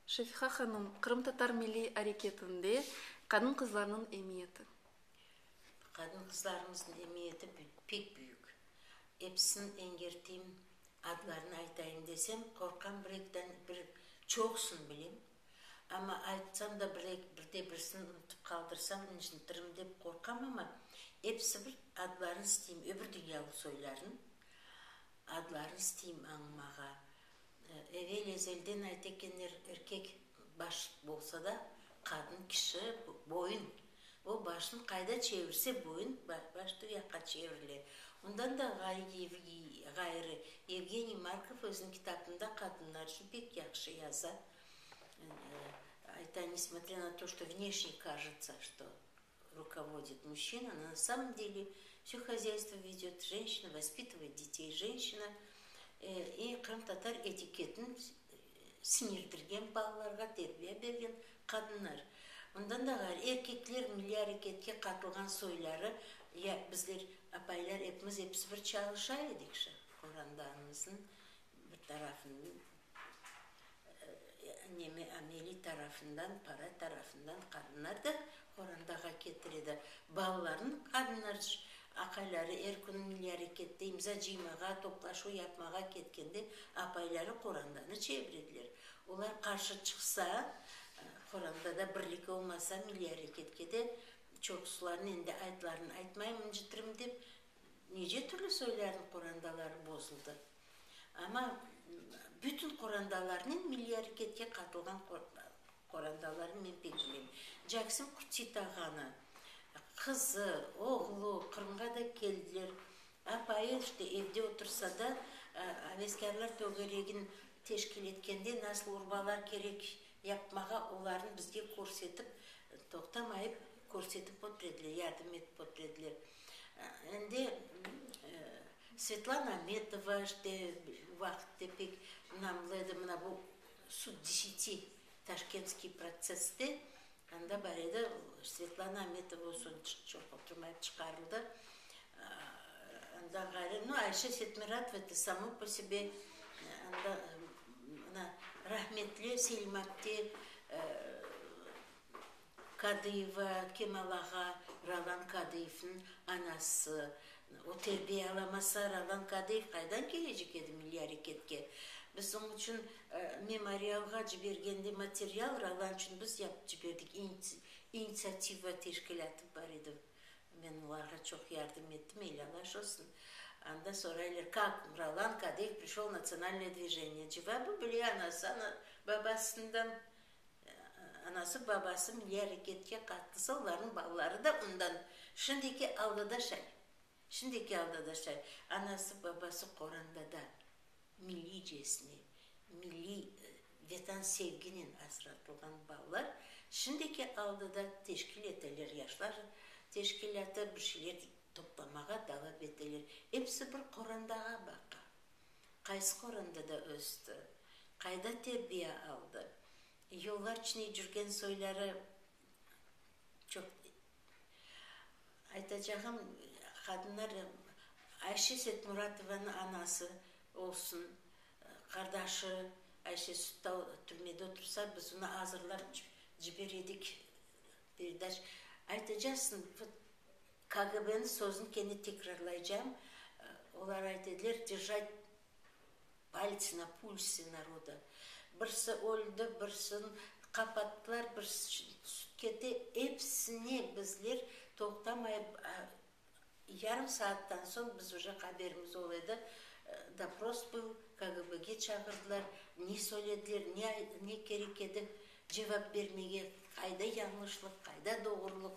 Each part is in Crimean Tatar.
Şefiqa hanım, qırımtatar milliy areketinde qadın-qızlarnıñ emiyeti. Qadın-qızlarımıznıñ emiyeti pek büyük. Episini eñgerteyim, adlarını aytayım desem, qorqam, bir-ekiden bir çoqusını bilem. Amma aytsam da bir-eki, birde-birisini unutıp qaldırsam, incitirim dep qorqam, amma episi bir adlarını isteyim, öbür dünyalıq soylarnıñ adlarını isteyim añımağa. Evel-ezelden ayta ekenler, erkek baş bolsa da, qadın kişi boyun. O başını qayda çevirse, boyun baş tü yaqqa çevirile. Ondan da ğayrı, Yevgeniy Markov özüniñ kitabında qadınlar içün pek yahşı yaza, ayta, Nesmotrâ na to, što vneşnye kažıtsa, što Rukovodit muşşina, no na samom deli vse hozâystvo vedöt jenşina, vospitovıt detey jenşina, e, qırımtatar etiketini siñirdirgen, balalarğa terbiya bergen qadınlar. Bundan da ğayrı, erkekler milliy areketke qatılğan soyları, ya bizler apaylar epimiz episi bir çalışa edik şa qorandanımıznıñ bir tarafında. Ameli tarafından, para tarafından qadınlar da qorantağa ketir edi. Balalarnı qadınlar aqayları er künü milliy arekette imza cıymağa, toplaşuv yapmağa ketkende apayları qorantanı çevir ediler. Olar qarşı çıqsa, qorantada birlik olmasa, milliy areketke de çoqusılarnı, endi aytlarını aytmaymın, incitirim dep, nece türlü soylarnı qorantaları bozuldı. Amma bütün qorandalarnen, milliy areketke qatılğan qorandalarnen men pek bilem. Jaksim Kütsi tağanı, qızı, oğlu Qırımğa da keldiler. Apayı işte evde otursa da, aveskârlar tögeregin teşkil etkende nasıl urbalar kerek yapmağa, olarnı bizge körsetip, toqtamayıp körsetip otur ediler, yardım etip otur ediler. Endi Svetlana Ametova, işte, vaqıtte pek ınamlı edi mına bu sud deseti taşkentskiy protsesste, anda bar edi, Svetlana Ametova o soñ çoq oturmayıp çıqarıldı. Ondan ğayrı, no, Ayşe Setmüratova, eto, samo po sebe, anda, mına, rahmetli Selim abdi, Kadıyeva Kemal ağa, Ralan Kadıyevniñ anası. O terbiye alamasa, Ralan Kadıyev qaydan kelecek edi milliy areketke? Biz oñ içün Memorialğa cibergende material Ralan içün biz yapıp ciberdik, İnitsiativa teşkilâtı bar edi, men olarğa çoq yardım ettim, elâlaş olsun. Anda soraylar, kâk Ralan Kadıyev prişol Natsionalnoye dvijeniye? Cevabı, bile, anası, babasından Anası, babası milliy areketke qatnasa, olarnıñ balaları da ondan şimdiki algıda şay. Şimdiki algıda şay. Anası, babası qoranda da milliycesine, milliy Vatan sevginen asratılğan balalar şimdiki algıda teşkil eteler, yaşlar teşkilâtı bir şeyler toplamağa davam eteler. Episi bir qorandağa baqa. Qaysı qorandada östi, qayda terbiya aldı, yıllarç ne cürgen soyları çoq. Aytacağım, qadınlar, Ayşe Setmuratovanıñ anası olsun, qardaşı Ayşe Süttau türmede otursa, biz onı azırlap ciber edik, Perdaş, aytacaqsıñ, vot KGBniñ sözün kene tekrarlaycam, olar ayt ediler, Držat paltsi na pulsi naroda, birsi öldi, birsin qapattılar, birsi tüsip ketti, epsine bizler toqtamay yarım saattan soñ biz uje haberimiz ol edi, dopros bul, KGBge çağırdılar, ne söylediler, ne ne kerek edi, cevap bermege, qayda yañlışlıq, qayda doğrulıq,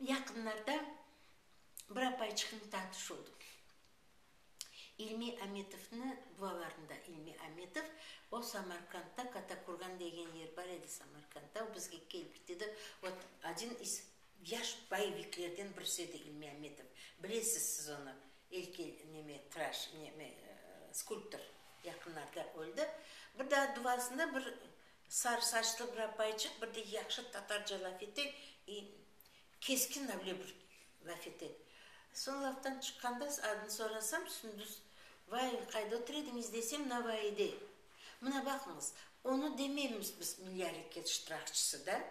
Yaqınlarda bir apayçıqnı tanış oldım. İlmi Amitovnı dualarında. İlmi Amitov, o Samarqandda Katakurgan degen yer bar edi Samarqandda, o bizge kelip dedi, ot odin iz yaş boyeviklerden birisi edi İlmi Amitov, bilesiz siz onı, elkel neme traş, neme, skulptor, yaqınlarda öldi. Bir daa duasında bir Sarı saçlı bir apaycıq, bir de yahşı tatarca laf ete, i, keskin avle bir laf ete. Soñ laftan çıqqanda adını sorasam, Sündüz. Vay, qayda otur ediñiz desem, Navaide. Mına baqıñız, onı demeymiz biz, Milyareket ştrahçısı da.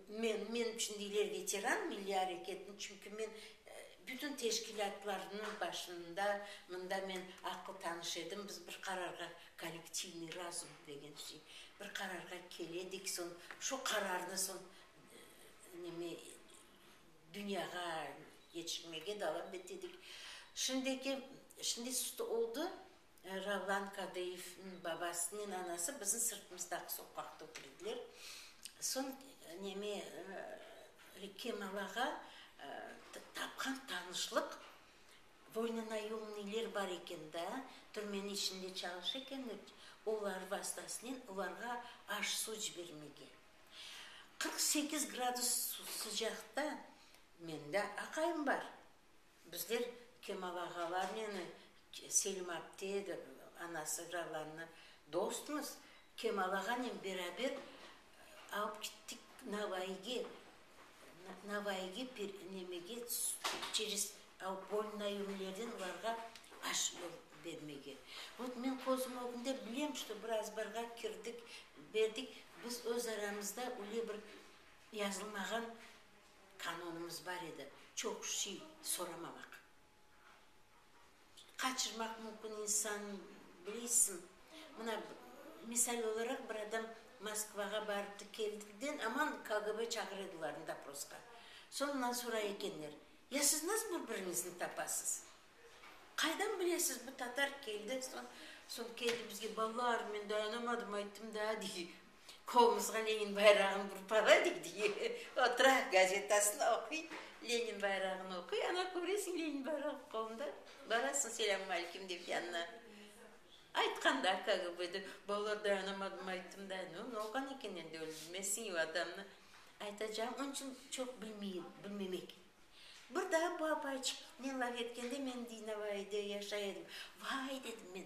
Men, men içün deyler veteran milliy areketni, çünki men bütün teşkilâtlarnıñ başında, mında men aqlı tanış edim, biz bir qararğa, kollektivniy razum degen şey, bir qararğa keledik, soñ şu qararnı soñ neme, dünyağa yetiştirmege davam etedik. Şimdiki, şimdi sud oldı, Ravlan Kadıyevniñ babasınen anası bizim sırtımızdaki soqaqta otur ediler. Soñ neme, Kemal ağa tapqan tanışlıq Voynına yolnılar bar eken da, türmenin içinde çalış eken, olar vastasınen olarğa aş, suv cibermege. Qırq sekiz gradus sıcaqta mende aqayım bar, Bizler Kemal ağalarnen Selim apte de anası Jalanna dostmız. Kemal ağanen beraber alıp gittik Navayıge. Navayıge nemege çeres polnayumlerden olarğa aş bermege. Vot men közüm ögünde bilem, çto bir azbarğa kirdik, berdik. Biz öz aramızda öyle bir yazılmağan qanunımız bar edi, çoq şey soramamaq, qaçırmaq mümkün insan, bileysiñ, mına, misal olaraq, bir adam Moskvağa barıptı, keldikten aman KGB çağıra ediler, doprosqa, soñundan soray ekenler, ya siz nasıl bir-biriñizni tapasız? Qaydan bilesiz, bu tatar keldi, soñ, soñ keldi bizge, balalar, men dayanamadım, ayttım daa, dey, qolumızğa Lenin bayrağını urıp alayıq, dey, otura gazetasını oquy, Lenin bayrağını oquy, ana köresiñ, Lenin bayrağı qolunda, barasıñ, selâmüm aleyküm dep yanına. Aytqan da KGBda, balalar, dayanamadım, ayttım daa, no, noqan eken endi, bilmezsiñ vatanını, aytacağım, onıñ içün çoq bilmey, bilmemek. Bir daa bu apayçıq meni laf etkende, men, dey, Navaide yaşay edim. Vay, dedim men,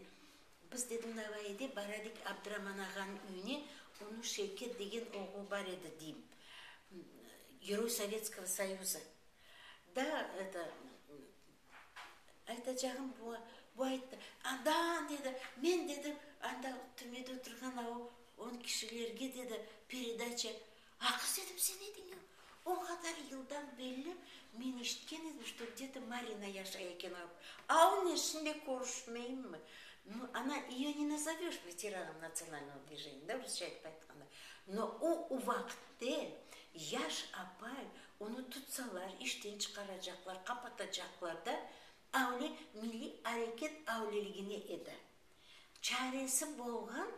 biz, dedim, Navaide baradik Abdıraman ağanıñ üyüne, onıñ Şevket degen oğlu bar edi, deyim, Geroy Sovetskogo Soyuza. Da, eto, aytacağım bu, bu ayttı, Anda, dedi, men, dedi, anda, türmede oturğan, o, on kişilerge, dedi, peredaça Aqırs etip sen ediñ ya. O qadar yıldan belli men eşitken edim, çto gde-to Marina yaşay eken ağam. Aun eşin de körüşmeyimmi? No, ana iyo ne nazovöş veteranom natsionalnogo dvijeniya, da, rusça etip aytqanda. No, o u vaqıtte yaş apay, onı tutsalar, işten çıqaracaqlar, qapatacaqlar da, avle milliy areket avleligine edi. Çaresi bolğan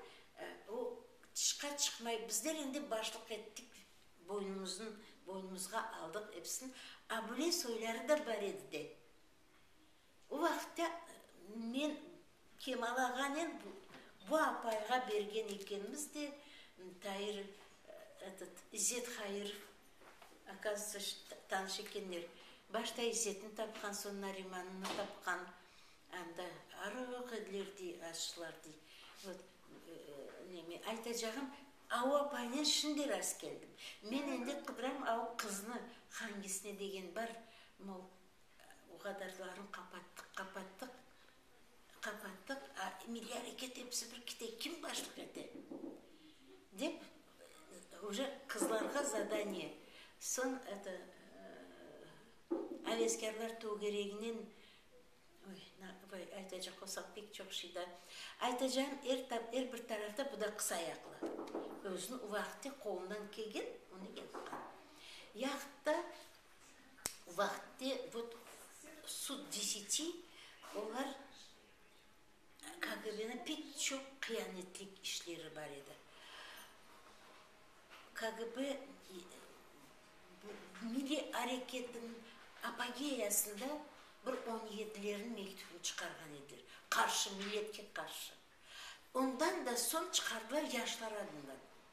o tışqa çıqmay, bizler endi başlıq ettik, boynumuzın boynumuzğa aldıq episini, a bule soyları da bar edi de. O vaqıtta men Kemal ağanen bu bu apayğa bergen ekenmiz de, Tair etet İzzet Hayırov akazıtsa tanış ekenler. Başta İzzetni tapqan, soñ Narimanını tapqan. Anda arıq ediler dey, açlar dey. Vot, neme aytacağım, ava paynen şimdi rast keldim. Men endi qıdıram av qıznı, hangisine degen bar. Mol, o qadarlarını qapattıq, qapattıq, qapattıq, a milliy areket hepsi bir kite, kim başlıq ete? dep, uje qızlarğa zadaniye. Soñ eto, aveskârlar tögereginen Vay, aytacaq olsaq pek çoq şey da. Aytacağım, er er bir tarafta bu da qısayaqlı. Özüni o vaqıtte qolundan kelgen, onı yapqan. Yahutta o vaqıtte vot sud deseti olar, KGBniñ pek çoq qıyanetlik işleri bar edi. KGB milliy areketiniñ apogeyasında bir on yedilerniñ mektübini çıqarğan ediler, qarşı, milletke qarşı. Ondan da soñ çıqardılar yaşlar adından.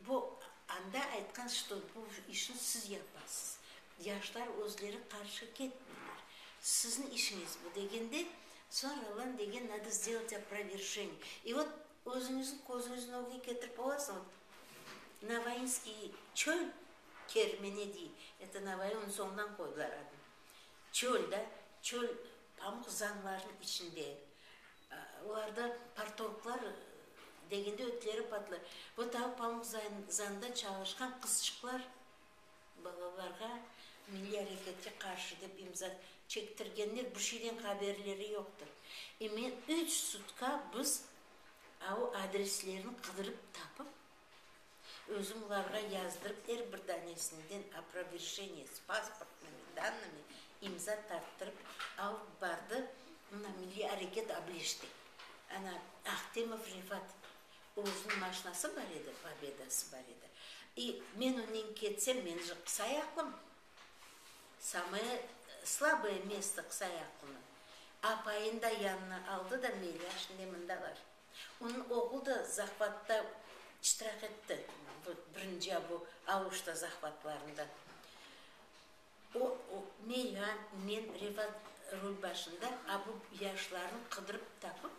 Bu anda aytqan, çto bu işni siz yapasız, yaşlar özleri qarşı ketmeyler, siziñ işiñiz bu degende, soñra lan degen, nado zdelot oprovержeniye. İ vot özüñizniñ közüñizniñ ögüne ketirip olasıñız, Novoinskiy çöl kermeni dey, eto Novoiy onıñ soñundan qoydılar adını, çöl da, çöl pamuq zanlarınıñ içinde. Olarda partorglar degende ötleri patlay. Bu tavuk pamuk zanda çalışqan qızçıqlar balalarğa milliy areketke qarşı dep imza çektirgenler bu şeyden haberleri yoqtır. E men üç sutka biz avu adreslerini qıdırıp tapıp Özüm olarğa yazdırıp, er bir danesinden oproverjeniye s pasportnımi, dannımi, imza tarttırıp alıp bardı. Mına, milliy areket ableşti. Ana, Ahtemov Refat, özüniñ maşnası bar edi, Pobedası bar edi. İ men onen ketsem, men jı qısayaqlım, samoye slaboye mesto qısayaqlınıñ. Apayında yanına aldı da, Melyar şimdi mında bar. Onıñ oğlu da zahvatta iştirak etti, bu birinci bu Auşta zahvatlarında. O, o, ne ya, men Revat rul başında a bu yaşlarnı qıdırıp tapıp,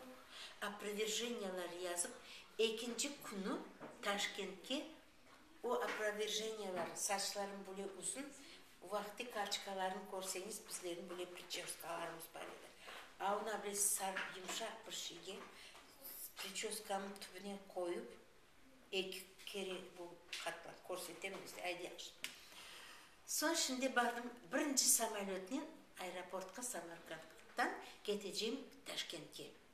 oproverjeniyalar yazıp, ekinci künü Taşkentke O oproverjeniyalar, saçlarım bule uzun, vaqti karçkalarnı körseñiz, bizlerniñ bile pričoskalarımız bar edi. A ona bile sarıp, yumşaq bir şeyge pričoskanıñ tübüne qoyıp, eki kere bu qatlam, körsetem bizde, ay, yahşı. Soñ şimdi bardım, birinci samolötnen aeroportqa, Samarqanddan ketecegim Taşkentke.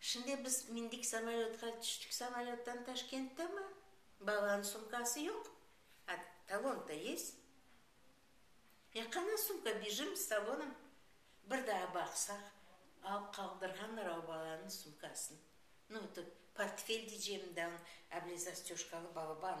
Şimdi biz mindik samolötqa, tüştik samolöttan Taşkentte mi? Balanıñ sumkası yoq, a talon-da yest. Ya qana sumka, bijim s talonom. Bir daa baqsaq, alıp qaldırğanlar o balanıñ sumkasını. Nu, tut, portfel, diycem, da, ablezastyoşkalı balaban.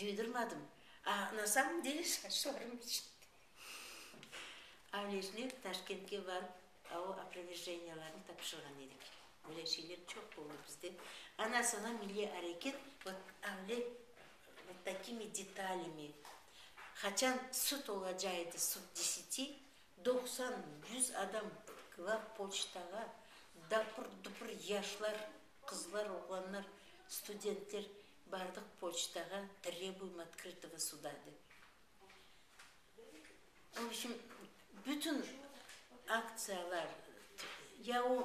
Duydurmadım. A na samım dele şaşlarım eşitti. Avlejnev Taşkentke barıp avu oproverjeniyalarnı tapşırğan edik. Böyle şeyler çoq boldı bizde. Ana soña milliy areket vot avle vot takimi detalyami, qaçan sud olacağı edi, sud deseti, doqsan, yüz adam glav poçtağa dapır-dupır yaşlar, qızlar, oğlanlar, studentler Bardıq poçtağa, trrebuyım otkritıvo suda, dep. Obşim, bütün aktsiyalar, ya o